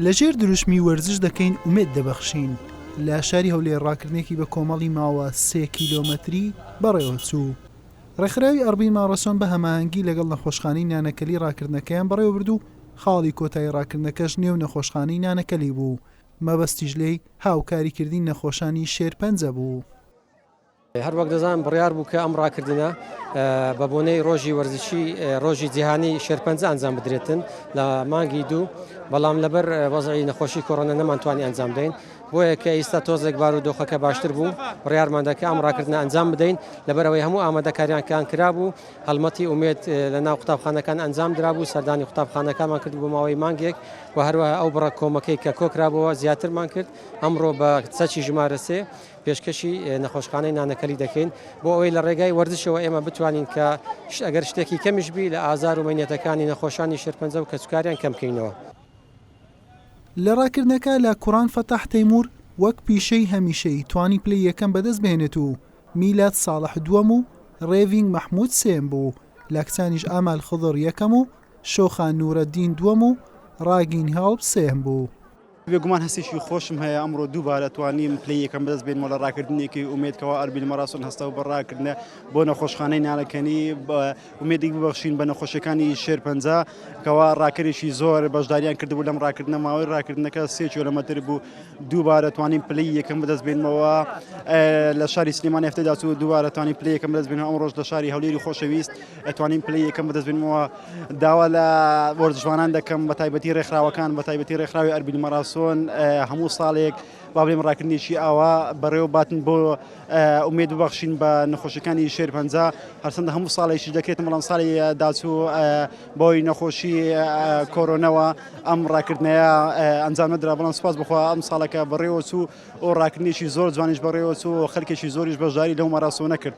لە ژێر دروشمی وەرزش دەکەین ئومێد دەبەخشین لە شاری هەولێر ڕاکردنێکی بە کۆمەڵی ماوە سێ کیلۆمەتری بەڕێوەچوو. ڕێکخراوی ئەڕبین ماڕەسۆن بە هەماهەنگی لەگەڵ نەخۆشخانەی نانەکەلی ڕاکردنەکەیان بەڕێوەبرد و خاڵی کۆتایی ڕاکردنەکەش نێو نەخۆشخانەی نانەکەلی بوو، مەبەستیش لێی هاوکاریکردنی نەخۆشانی شێرپەنجە بوو. هەروەک دەزانن بڕیار بوو کە ئەم ڕاکردنە بە بۆنەی ڕۆژی وەرزشی ڕۆژی جیهانی شێرپەنجە ئەنجام بدرێتن لە مانگی دوو بەڵام لەبەر وەزعی نەخۆشی کۆڕۆنە نەمانتوانی ئەنجام دەین بۆیە کە ئیستا تۆزێک بار و دۆخەکە باشتر بوو بڕیارماندەکە ئەم ڕاکردنە ئەنجام بدەین لەبەرەوەی هەموو ئامادەکاریانکان کرابوو هەڵمەتی ئومێت لە ناو قوتابخانەکان ئەنجام درابوو سەردانی قوتابخانەکانمان کرد بۆ ماوەی مانگێک و هەروەها ئەو بڕە کۆمەکەی کە کۆکرابەوە زیاترمان کرد ئەمڕۆ بە چەکی ژمارەسێ پێشکەشی نەخۆشخانەی نانەکەلی دەکەین بۆ ئەوەی لە ڕێگای وەرزشەوە ئێمە بتوانین کە ئەگەر شتێکی کەمیش بی لە ئازار و مەینەتەکانی نەخۆشانی شێرپەنجە و کەسوکاریان کەم کەینەوە. لە ڕاکردنەکە لە کوڕان فەتاح تەیموور وەک پیشەی هەمیشەیی توانی پلەی یەکەم بەدەست بهێنێت و میلاد ساڵح دووەم و ڕێڤینگ مەحموود سێیەم بوو، لە کچانیش ئامال خضر یەکەم و شۆخان نوورەدین دووەم و ڕاگین هێڵپ سێیەم بوو. بێگومان هەستێکی خۆشم هەیە ئەمڕۆ دووبارە توانیم پلەی یەکەم بەدەست بێنمەوە لە ڕاکردنێکی ئومێد کەوا ئەربیل مەراسۆن هەستاو بە ڕاکردنە بۆ نەخۆشخانەی نانەکەنی بە ئومێدی ببەخشین بە نەخۆشەکانی شێرپەنجە کەوا ڕاکەرێکی زۆر بەشداریان کردبوو لەم ڕاکردنە ماوەی ڕاکردنەکە سێ کیلۆمەتر بوو دووبارە توانیم پلەی یەکەم بەدەست بێنمەوە لە شاری سلێمانی هەفتەی داچوو دووبارە توانیم پلەی یەکەم بەدەست بێنمەوە ئەمڕۆش لە شاری هەولێری خۆشەویست ئەتوانین پلەی یەکەم بەدەست بێنمەوە داوا لە وەرزشوانان دەکەم بە تایبەتی ڕێکخراوەکان بە تایبەتی ڕێکخراوی ئەربیل مەراسۆن هەموو ساڵێک با بڵێم ڕاکردنێکی ئاوا بەڕێوە باتن بۆ ئومێد ببەخشین بە نەخۆشەکانی شێر پەنج هەرچەندە هەموو ساڵێکی دەکرێت بەڵام ساڵی داچوو بۆی نەخۆشی کۆرۆنەوە ئەم ڕاکردنەیە ئەنجام نەدرا بەڵام سپاس بخوا ئەم ساڵەکە بەڕێوە چوو ئەو ڕاکردنێکی زۆر جوانیش بەڕێوە چوو خەرکێکی زۆریش بەژاری لەو مەراسۆنە کرد.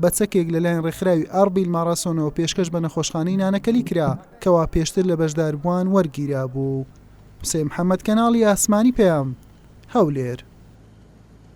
بە چەکێک لەلایەن ڕێکخراوی ئاربیل ماڕاسۆنەوە پێشکەش بە نەخۆشخانەی نانەکەلی کرا، کەوا پێشتر لە بەشداربووان وەرگیرابوو. حوسێن محەمەد کەناڵی ئاسمانی پەیام، هەولێر.